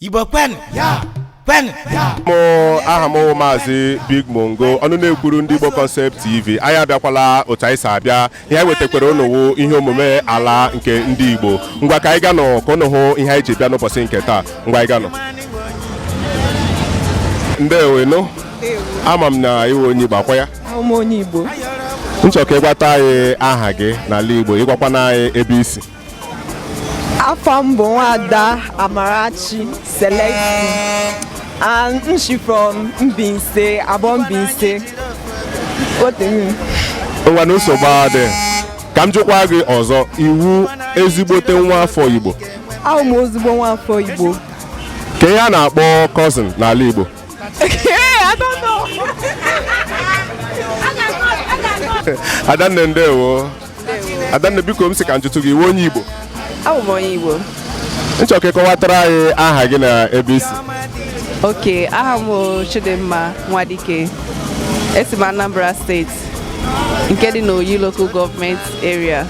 Igbo kwenụ ya kwenụ ya mụ aha m wụ maazị big mongo ọnụ na-ekwuru ndị igbo concept tv anyị abịakwala otu anyị si abịa ihe anyị wetakwara unu wụ ihe omume ala nke ndị igbo ngwa ka anyị ganụ ka unu hụ ihe anyị ji bịa n'ụbọchị nke taa ngwa anyị ganụ ndewenu ama m na ị wụ onye igbo ọ kwa ya awụ m onye Igbo m chọ ka ị gwatụ anyị aha gị n'ala igbo ị gwakwanụ anyị ebe i si aha m bụ nwada Amarachi Celestine and m si from Mbaise Aboh Mbaise ngwanụ nsogbu adịghị ka m jụkwa gị ọzọ ị wụ ezigbote nwa afọ Igbo awụ m ezigbo nwa afọ Igbo kee ihe a na-akpọ cousin n'ala Igbo I don't know Adanne ndewo adanne biko m sị ka m jụtụ gị ị wụ onye igbo awụ m onye igbo m chọ ka ị kọwatara anyị aha gị na ebe i si okay aha m chidimma nwadike esi m anambra steeti nke dị n'oyi local gọọmenti area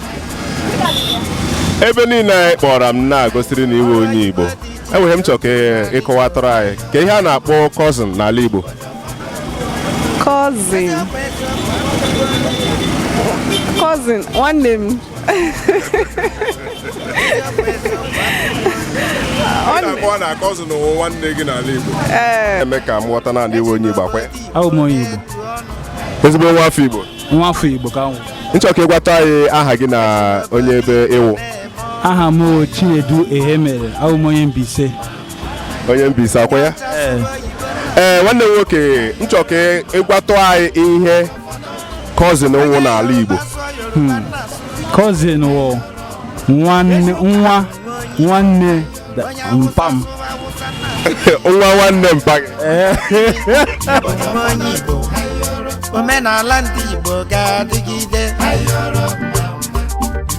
ebe niile a ị kpọrọ m na-egosiri na ị wụ onye igbo ehee m chọrọ ka ị kọwatara anyị ka ihe a na-akpọ cousin n'ala igbo cousin cousin nwanne m ọ na cousin wụ nwanne gị n'ala Igbo eh. eme ka m ghọta na ị wụ onye Igbo ọ kwa ya abụ m onye Igbo ezigbo nwa afọ Igbo nwa afọ Igbo ka m wụ m chọ ka ị gwatụ anyị aha gị na onye ebe ị wụ aha m Chinedu Ehemere awụ m onye Mbaise onye Mbaise ọ kwa ya ee ee eh, nwanne m nwoke m chọrọ ka ị gwatụ anyị ihe cousin wụ n'ala Igbo cousin hmm. wụ nwa nwanne mpa m nwa nwanne mpa gị eh. omenala ndị Igbo ga-adịgide